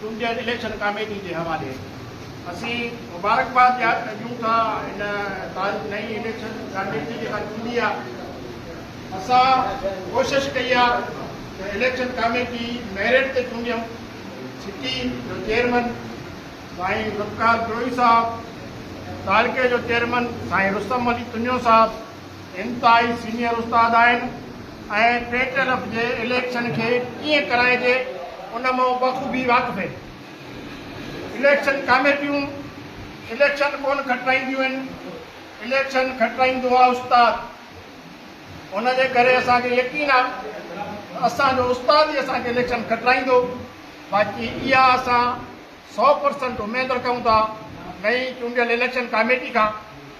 چونڊيل election committee جي حوالي اسين مبارڪباد ڏيون ٿا ان تاريخ نئين اليڪشن ڪاميٽي جيڪا چونڊي آ اسان ڪوشش ڪئي آ ته اليڪشن ڪاميٽي ميرٽ تي چونڊيون سٽي جو چيئرمن سائين ذوالفقار بروهي صاحب تعلقي جو چيئرمن سائين رستم علي تنيو صاحب انتهائي سينئر استاد آهن ۽ پيٽلف جي اليڪشن کي ڪيئن ڪرائجي ان مان بخوبي واقف آهن. اليڪشن ڪاميٽيون اليڪشن ڪونه کٽرائينديون آهن، اليڪشن کٽرائيندو آهي استاد. ان جي ڪري اسان کي يقين آهي ته اسان جو استاد ئي اسان کي اليڪشن کٽرائيندو. باقي اها اسان سؤ پرسنٽ اميد رکون ٿا نئين چونڊيل اليڪشن ڪاميٽي کان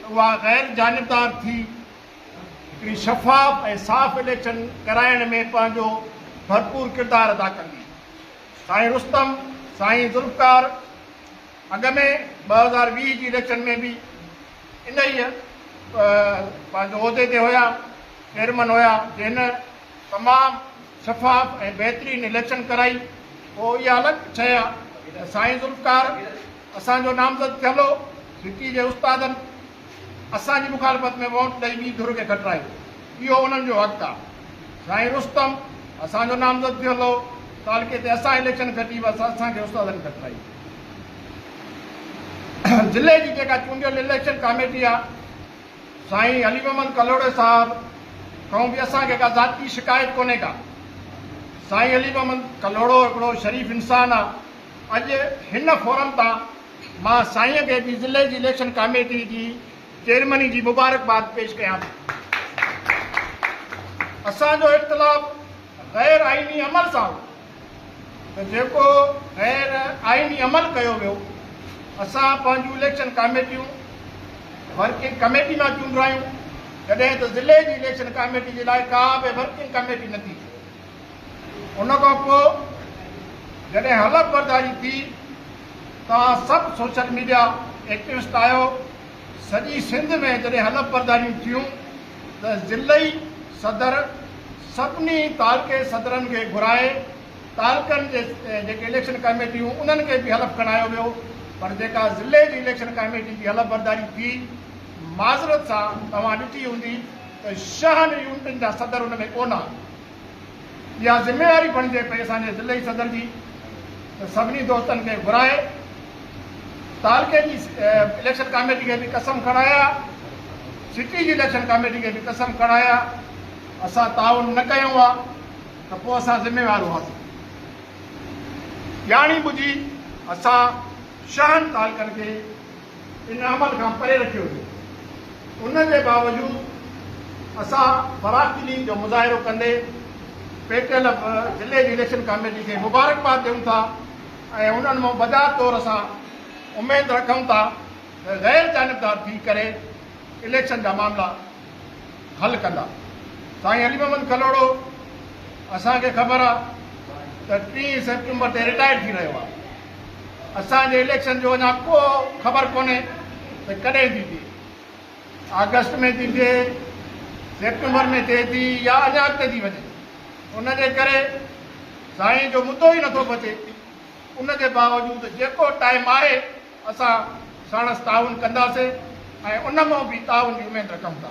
ته اها غير جانبدار ٿي هڪڙي شفاف ۽ صاف اليڪشن ڪرائڻ ۾ پنهنجو ڀرپور ڪردار ادا ڪندي. سائين رستم، سائين ذوالفقار اڳ ۾ ٻه هزار ويهه جي اليڪشن ۾ به انهيء پنهنجو عهدي تي هيا، چيئرمن هيا، جنهن تمام شفاف ۽ بهترين اليڪشن ڪرائي پوء اها الڳ شيء آ ته سائين ذوالفقار اسان جو نامزد ٿيل هو سٽي جي استادن اسان جي مخالفت ۾ ووٽ ڏئي ٻي ڌر کي کٽرايو اهو انهن جو حق آ سائين رستم اسان جو نامزد ٿيل هو تعلقي تي اسان اليڪشن کٽي بس اسان کي استادن کٽرائي ضلعي جي جيڪا چونڊيل اليڪشن ڪاميٽي آ سائين علي محمد ڪلهوڙي صاحب کان به اسان کي ڪا ذاتي شڪايت ڪونهي ڪا. سائين علي محمد ڪلهوڙو هڪڙو شريف انسان آ. اڄ هن فورم تان مان سائين کي به ضلعي جي اليڪشن ڪاميٽي جي چيئرميني جي مبارڪباد پيش ڪيان ٿو. اسان جو اختلاف غير آئيني عمل سان هو. ته جيڪو غير آئيني عمل ڪيو ويو اسان پنهنجون اليڪشن ڪاميٽيون ورڪنگ ڪميٽي مان چونڊرايون جڏهن ته ضلعي جي اليڪشن ڪاميٽي جي لاء ڪا به ورڪنگ ڪميٽي نه ٿي ان کان پوء جڏهن حلف برداري ٿي توهان سڀ سوشل ميڊيا ايڪٽوسٽ آهيو سڄي سنڌ ۾ جڏهن حلف برداريون ٿيون ته ضلعي صدر سڀني تعلقي صدرن کي گهرائي تعلقن جي جيڪي اليڪشن ڪاميٽيون انهن کي به حلف کڻايو ويو پر جيڪا ضلعي جي اليڪشن ڪاميٽي جي حلف برداري ٿي معذرت سان توهان ڏٺي هوندي ته شهن يونٽن جا صدر ان ۾ ڪونه اها ذميواري بڻجي پئي اسان جي ضلعي صدر جي ته سڀني دوستن کي گهرائي تعلقي جي اليڪشن ڪاميٽي کي به قسم کڻايا سٽي جي اليڪشن ڪاميٽي کي به قسم کڻايا اسان تعاون نه ڪيو آ ته پوء اسان ذميوار هئاسين ڄاڻي ٻجهي اسان شهن تعلقن کي ان عمل کان پري رکيو ويو. ان جي باوجود اسان فراخدلي جو مظاهرو ڪندي پي ٽي ايل ايف ضلعي جي اليڪشن ڪاميٽي کي مبارڪباد ڏيون ٿا ۽ انهن مان بجا طور اسان اميد رکون ٿا ته غير جانبدار ٿي ڪري اليڪشن جا معاملا حل ڪندا. سائين علي محمد کلهوڙو اسان کي خبر آهي ته ٽي سيپٽمبر تي رٽائر ٿي رهيو آهي. اسان جي اليڪشن جو اڃا ڪو خبر ڪونهي ته ڪڏهن ٿي ٿئي، آگسٽ ۾ ٿي ٿئي، سيپٽمبر ۾ ٿئي ٿي يا اڃا اڳتي ٿي وڃي، ان جي ڪري سائين جو مدو ئي نٿو بچي، ان جي باوجود جيڪو ٽائيم آهي اسان ساڻس تعاون ڪنداسين ۽ ان مان به تعاون جي اميد رکون ٿا.